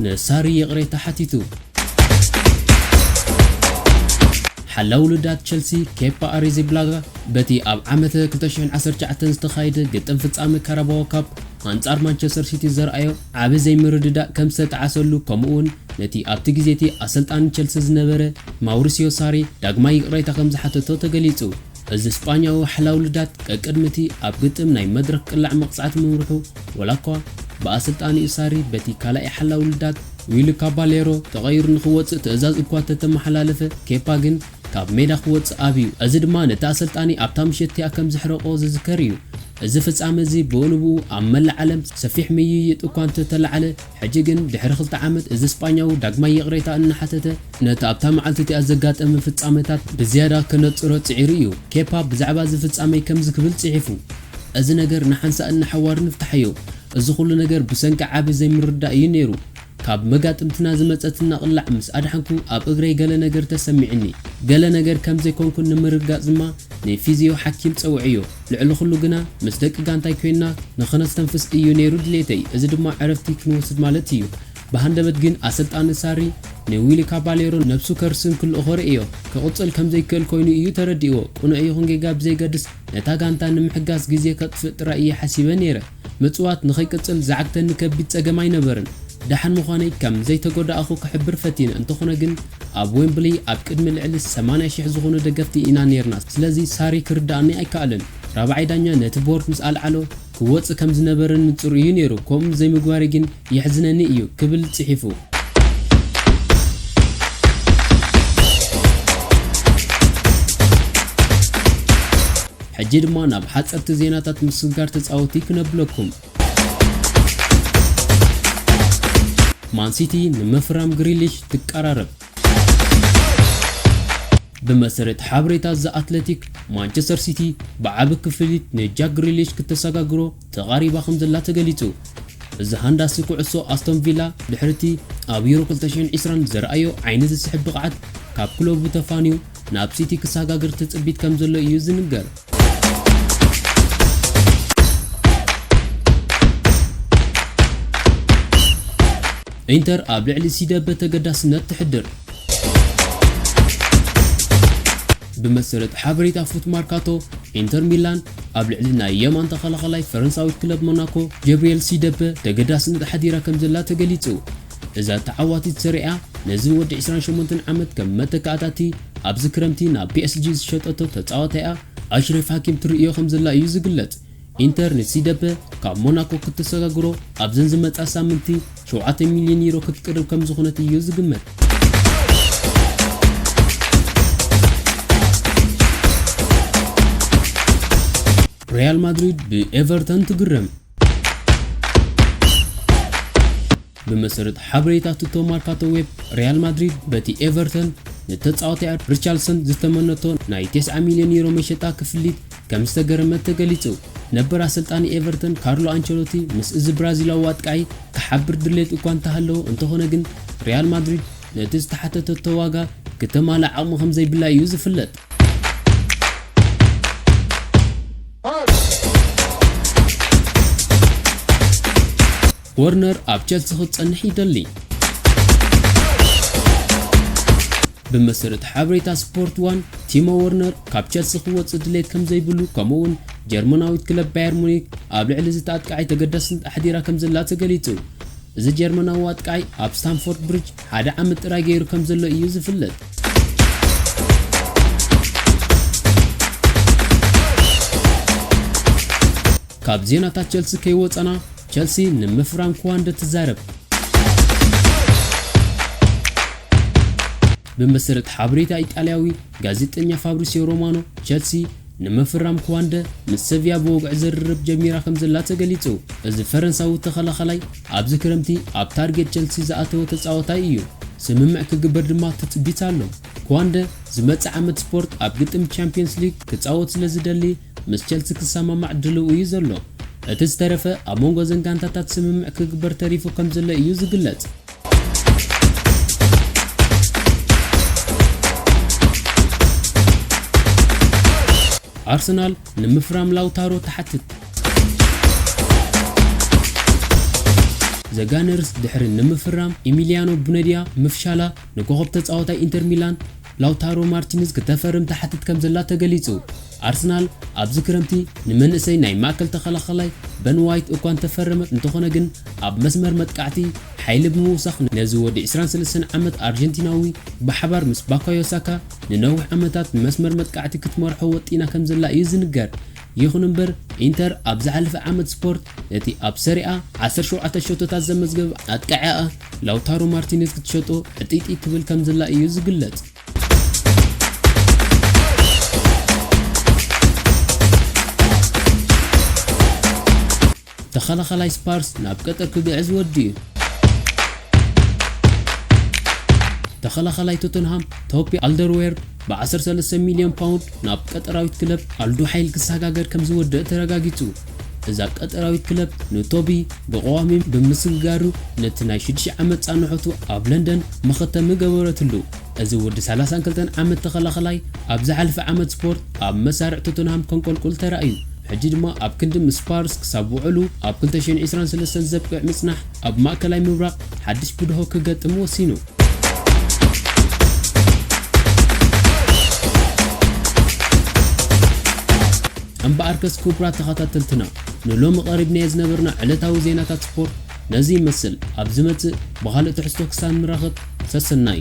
ንሳሪ ይቕሬታ ሓቲቱ ሓላው ውልዳት ቸልሲ ኬፓ ኣሪዚብላጋ በቲ ኣብ ዓመት 2019 ዝተኻየደ ግጥም ፍጻመ ካራባዎ ካፕ ኣንጻር ማንቸስተር ሲቲ ዘርኣዮ ዓቢ ዘይምርድዳእ ከም ዝተጠዓሰሉ ከምኡ'ውን ነቲ ኣብቲ ግዜ'ቲ ኣሰልጣኒ ቸልሲ ዝነበረ ማውሪስዮ ሳሪ ዳግማይ ይቕሬታ ከም ዝሓተቶ ተገሊጹ። እዚ ስጳኛዊ ዋሕላዊ ልዳት ቀቅድሚ እቲ ኣብ ግጥም ናይ መድረኽ ቅላዕ መቕጻዕቲ ምምርሑ ወላኳ ብኣሰልጣኒኡ ሳሪ በቲ ካልኣይ ሓላዊ ልዳት ዊሊ ካባሌሮ ተቐይሩ ንኽወጽእ ትእዛዝ እኳ እተተመሓላለፈ ኬፓ ግን ካብ ሜዳ ክወጽእ ኣብዩ። እዚ ድማ ነቲ ኣሰልጣኒ ኣብታ ምሸት እቲኣ ከም ዘሕረቖ ዝዝከር እዩ። እዚ ፍጻመ እዚ ብኡንብኡ ኣብ መላእ ዓለም ሰፊሕ ምይይጥ እኳ እንተ ተላዕለ፣ ሕጂ ግን ድሕሪ ክልተ ዓመት እዚ ስጳኛዊ ዳግማይ ይቕሬታ እናሓተተ፣ ነቲ ኣብታ መዓልቲ እቲኣ ዘጋጠመ ፍጻመታት ብዝያዳ ከነጽሮ ጽዒሩ እዩ። ኬፓ ብዛዕባ እዚ ፍጻመይ ከምዚ ክብል ጽሒፉ፣ እዚ ነገር ንሓንሳእን ንሓዋሩን ፍትሓዮ። እዚ ዅሉ ነገር ብሰንኪ ዓቢ ዘይምርድዳእ እዩ ነይሩ። ካብ መጋጥምትና ዝመጸትና ቅላዕ ምስ ኣድሓንኩ ኣብ እግረይ ገለ ነገር ተሰሚዑኒ። ገለ ነገር ከም ዘይኮንኩ ንምርግጋጽ ድማ ንፊዝዮ ሓኪም ጸውዔዮ። ልዕሊ ኹሉ ግና ምስ ደቂ ጋንታይ ኮይንና ንኸነስተንፍስ እዩ ነይሩ ድሌተይ፣ እዚ ድማ ዕረፍቲ ክንወስድ ማለት እዩ። ብሃንደበት ግን ኣሰልጣኒ ሳሪ ንዊሊ ካባሌሮ ነብሱ ከርስን ክልእኾ ርእዮ። ክቕጽል ከም ዘይክእል ኮይኑ እዩ ተረዲእዎ። ቅኑዕ ይኹን ጌጋ ብዘይገድስ ነታ ጋንታ ንምሕጋዝ ግዜ ከጥፍእ ጥራይ እየ ሓሲበ ነይረ። ምጽዋት ንኸይቅጽል ዝዓግተኒ ከቢድ ጸገም ኣይነበርን። ደሓን ምዃነይ ከም ዘይተጎዳእኹ ክሕብር ፈቲነ፣ እንተኾነ ግን ኣብ ዌምብሊ ኣብ ቅድሚ ልዕሊ ሰማንያ ሽሕ ዝኾኑ ደገፍቲ ኢና ኔርና፣ ስለዚ ሳሪ ክርድኣኒ ኣይከኣለን። ራብዓይ ዳኛ ነቲ ቦርድ ምስ ኣልዓሎ ክወጽእ ከም ዝነበረኒ ንጹር እዩ ኔሩ፣ ከምኡ ዘይምግባረይ ግን የሕዝነኒ እዩ ክብል ጽሒፉ። ሕጂ ድማ ናብ ሓጸርቲ ዜናታት ምስግጋር ተጻወቲ ክነብለኩም። ማን ሲቲ ንምፍራም ግሪሊሽ ትቀራረብ። ብመሰረት ሓበሬታ ዘ ኣትለቲክ፣ ማንቸስተር ሲቲ ብዓቢ ክፍሊት ንጃክ ግሪሊሽ ክተሰጋግሮ ተቓሪባ ከምዘላ ተገሊጹ። እዚ ሃንዳሲ ኩዕሶ ኣስቶን ቪላ ድሕሪ'ቲ ኣብ ዩሮ ክልተ ሽሕን ዕስራን ዘርኣዮ ዓይኒ ዝስሕብ ብቕዓት ካብ ክለቡ ተፋንዩ ናብ ሲቲ ክሰጋገር ትጽቢት ከምዘሎ እዩ ዝንገር። ኢንተር ኣብ ልዕሊ ሲደበ ተገዳስነት ተሕድር። ብመሰረት ሓበሬታ ፉት ማርካቶ ኢንተር ሚላን ኣብ ልዕሊ ናይ የማን ተኸላኻላይ ፈረንሳዊት ክለብ ሞናኮ ጀብሪኤል ሲደፐ ተገዳስነት ኣሕዲራ ከምዘላ ተገሊጹ። እዛ ተዓዋቲት ሰሪ'ያ ነዚ ወዲ ዕስራን ሸሞንተን ዓመት ከም መተካእታ'ቲ ኣብዚ ክረምቲ ናብ ፒኤስጂ ዝሸጠቶ ተጻዋታይኣ ኣሽረፍ ሃኪም ትርእዮ ከምዘላ እዩ ዝግለጽ። ኢንተር ንሲደፐ ካብ ሞናኮ ክትሰጋግሮ ኣብዘን ዝመጻ ሳምንቲ ሸውዓተ ሚልዮን ዩሮ ክትቅርብ ከምዝኾነት እዩ ዝግመት። ሪያል ማድሪድ ብኤቨርተን ትግረም። ብመሰረት ሓበሬታ ቱቶ ማርካቶ ዌብ ሪያል ማድሪድ በቲ ኤቨርተን ንተጻዋቲኣ ሪቻርልሰን ዝተመነቶ ናይ 90 ሚልዮን ዩሮ መሸጣ ክፍሊት ከምዝተገረመት ተገሊጹ። ነበር ኣሰልጣኒ ኤቨርተን ካርሎ ኣንቸሎቲ ምስ እዚ ብራዚላዊ ኣጥቃዒ ክሓብር ድሌት እኳ እንተሃለዎ እንተኾነ ግን ሪያል ማድሪድ ነቲ ዝተሓተተቶ ዋጋ ክተማልእ ዓቕሚ ከምዘይብላ እዩ ዝፍለጥ። ወርነር ኣብ ቸልሲ ክትጸንሕ ይደሊ። ብመሰረት ሓበሬታ ስፖርት ዋን፣ ቲሞ ወርነር ካብ ቸልሲ ክወጽእ ድሌት ከም ዘይብሉ ከምኡ'ውን ጀርመናዊት ክለብ ባየር ሙኒክ ኣብ ልዕሊ እዚ ኣጥቃዓይ ተገዳስነት ኣሕዲራ ከም ዘላ ተገሊጹ። እዚ ጀርመናዊ ኣጥቃዓይ ኣብ ስታምፎርድ ብሪጅ ሓደ ዓመት ጥራይ ገይሩ ከም ዘሎ እዩ ዝፍለጥ። ካብ ዜናታት ቸልሲ ከይወጸና ቸልሲ ንምፍራም ክዋንደ ትዛረብ። ብመሰረት ሓበሬታ ኢጣልያዊ ጋዜጠኛ ፋብሪሲዮ ሮማኖ ቸልሲ ንምፍራም ክዋንደ ምስ ሰቪያ ብወግዒ ዝርርብ ጀሚራ ከምዘላ ተገሊጹ። እዚ ፈረንሳዊ ተኸላኻላይ ኣብዚ ክረምቲ ኣብ ታርጌት ቸልሲ ዝኣተወ ተጻዋታይ እዩ። ስምምዕ ክግበር ድማ ትጽቢት ኣሎ። ክዋንደ ዝመጽእ ዓመት ስፖርት ኣብ ግጥም ቻምፕዮንስ ሊግ ክጻወት ስለዝደሊ ምስ ቸልሲ ክሰማማዕ ድልው እዩ ዘሎ። እቲ ዝተረፈ ኣብ መንጎ እዘን ጋንታታት ስምምዕ ክግበር ተሪፉ ከምዘሎ እዩ ዝግለጽ። ኣርሰናል ንምፍራም ላውታሮ ትሓትት ዘጋነርስ ድሕሪ ንምፍራም ኢሚልያኖ ቡነድያ ምፍሻላ ንኮኸብ ተጻዋታይ ኢንተር ሚላን ላውታሮ ማርቲንዝ ክተፈርም ትሓትት ከምዘላ ተገሊጹ። ኣርሰናል ኣብዚ ክረምቲ ንመንእሰይ ናይ ማእከል ተኸላኻላይ በን ዋይት እኳ እንተፈረመት እንተኾነ ግን ኣብ መስመር መጥቃዕቲ ሓይሊ ብምውሳኽ ነዚ ወዲ ዕስራን ሰለስተን ዓመት ኣርጀንቲናዊ ብሓባር ምስ ባካዮ ሳካ ንነዊሕ ዓመታት ንመስመር መጥቃዕቲ ክትመርሖ ወጢና ከምዘላ እዩ ዝንገር። ይኹን'ምበር ኢንተር ኣብ ዝሓለፈ ዓመት ስፖርት ነቲ ኣብ ሰሪኣ ዓሰርተ ሸውዓተ ሸቶታት ዘመዝገበ ኣጥቃዒኣ ላውታሮ ማርቲነዝ ክትሸጦ ሕጥይጥይ ክብል ከምዝላ ኢዩ ዝግለጽ። ተኸላኻላይ ስፓርስ ናብ ቀጠር ክግዕዝ ወዲኡ። ተኸላኻላይ ቶተንሃም ቶፒ ኣልደርዌርድ ብ ዓሰርተ ሰለስተ ሚልዮን ፓውንድ ናብ ቀጠራዊት ክለብ ኣልዱሓይል ክሰጋገር ከምዝወደእ ተረጋጊጹ። እዛ ቀጠራዊት ክለብ ንቶቢ ብቐዋሚ ብምስግጋሩ ነቲ ናይ ሽዱሽተ ዓመት ጻንሖቱ ኣብ ለንደን መኸተሚ ገበረትሉ። እዚ ወዲ ሰላሳን ክልተን ዓመት ተኸላኸላይ ኣብ ዝሓለፈ ዓመት ስፖርት ኣብ መሳርዕ ቶተንሃም ከንቆልቁል ተራእዩ። ሕጂ ድማ ኣብ ክንዲ ምስ ስፓርስ ክሳብ ውዕሉ ኣብ ክልተ ሽሕን ዕስራን ሰለስተን ዘብቅዕ ምጽናሕ ኣብ ማእከላይ ምብራቕ ሓድሽ ብድሆ ክገጥም ወሲኑ። እምበኣርከስ ክቡራት ተኸታተልትና ንሎሚ ቀሪብናዮ ዝነበርና ዕለታዊ ዜናታት ስፖርት ነዚ ይመስል፣ ኣብ ዝመጽእ ብኻልእ ትሕዝቶ ክሳብ ንራኸብ ሰሰናዩ።